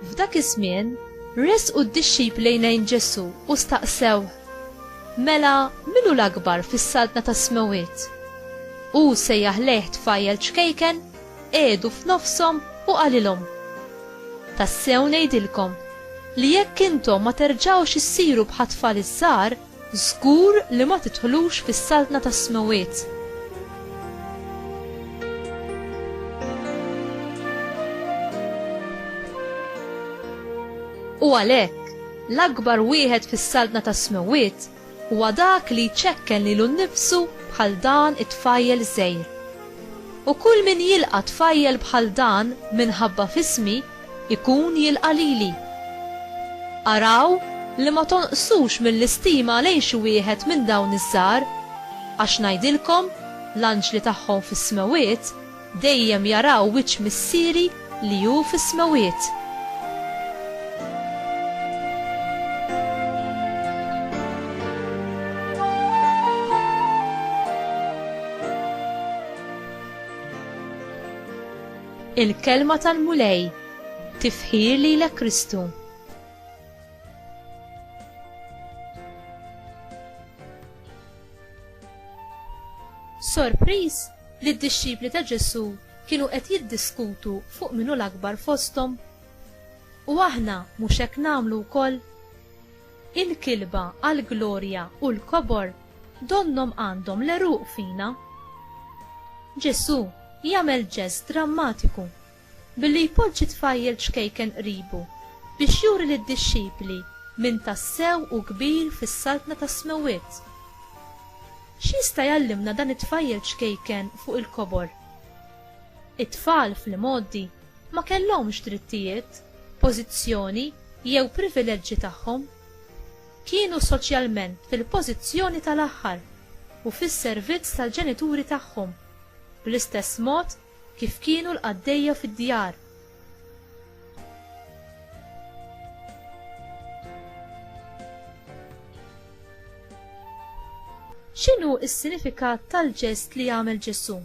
F'dak iż-żmien, resqu d-dixxipli lejn Ġesù u staqsew, Mela, min hu l-akbar fis-saltna tas-smewwiet? Hu sejjaħ lejh tfajjel ċkejken? qiegħdu f'nofshom u qalilhom, Tassew ngħidilkom li jekk intom ma terġgħux issiru bħat-tfal iż-żgħar, żgur li ma tidħlux fis-Saltna tas-Smewwiet. U għalhekk, l-akbar wieħed fis-Saltna tas-Smewwiet Huwa dak li jċekken lilu nnifsu bħal dan it-tfajjel żgħir. U kull min jilqa' tfajjel bħal dan minħabba f'ismi, ikun jilqa' lili. Araw li ma tonqsux mill-istima lejn xi wieħed minn dawn iż-żgħar, għax ngħidilkom, l-anġli tagħhom fis-smewwiet Dejjem jaraw wiċċ Missieri li hu fis-smewwiet. Il-Kelma tal-Mulej, Tifħir lilek Kristu. Sorpriż li d-dixxipli ta' Ġesù kienu qed jiddiskutu fuq min hu l-akbar fosthom? U aħna mhux hekk nagħmlu wkoll? Il-kilba għall-glorja u l-kobor donnhom għandhom l-għeruq fina. Ġesù jagħmel ġest drammatiku Billi jpoġġi tfajjel ċkejken qribu, biex juri lid-dixxipli min tassew hu kbir fis-Saltna tas-Smewwiet. X'jista' jgħallimna dan it-tfajjel ċkejken fuq il-kobor? It-tfal, fl-imgħoddi, ma kellhomx drittijiet, pożizzjoni jew privileġġi tagħhom. Kienu soċjalment fil-pożizzjoni tal-aħħar u fis-servizz tal-ġenituri tagħhom, bl-istess mod Kif kienu l-qaddejja fid-djar. X'inhu s-sinifikat tal-ġest li għamel Ġesù?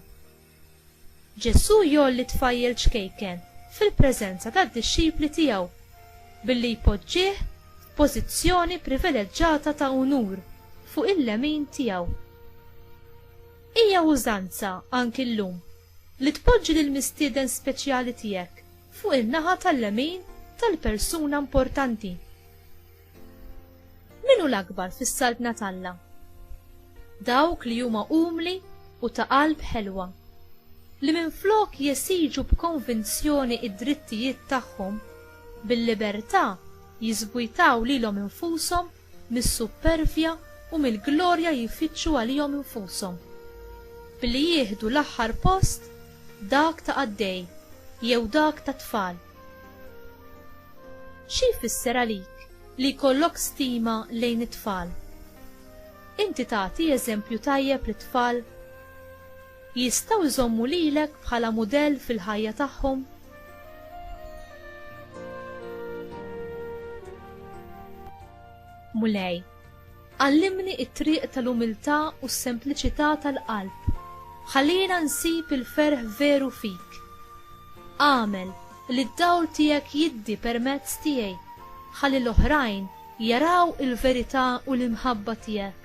Ġesù jgħolli tfajjel ċkejken fil-preżenza tad-dixxipli tiegħu billi jpoġġih f'pożizzjoni privileġġata ta' unur fuq il-lemin tiegħu. Hija użanza anki llum li tpoġġi lil mistieden speċjali tiegħek fuq in-naħa tal-lemin tal-persuna importanti. Min hu l-akbar fis-saltna t'Alla? Dawk li huma umli u ta' qalb ħelwa, li minflok jesiġu b'konvinzjoni id-drittijiet tagħhom, bil-libertà jiżbujtaw lilhom infushom mis-suppervja u mill-glorja jfittxu għalihom infushom, billi jieħdu l-aħħar post, dak ta' qaddej jew dak ta' tfal. Xi jfisser għalik li jkollok stima lejn it-tfal? Inti tagħti eżempju tajjeb lit-tfal? Jistgħu jżommu lilek bħala mudell fil-ħajja tagħhom? Mulej, għallimni t-triq tal-umiltà u s-sempliċità tal-qalb. Ħallina nsib il-ferħ veru fik. Agħmel li d-dawl tiegħek jiddi permezz tiegħi ħalli l-oħrajn jaraw il-verità u l-imħabba tiegħek.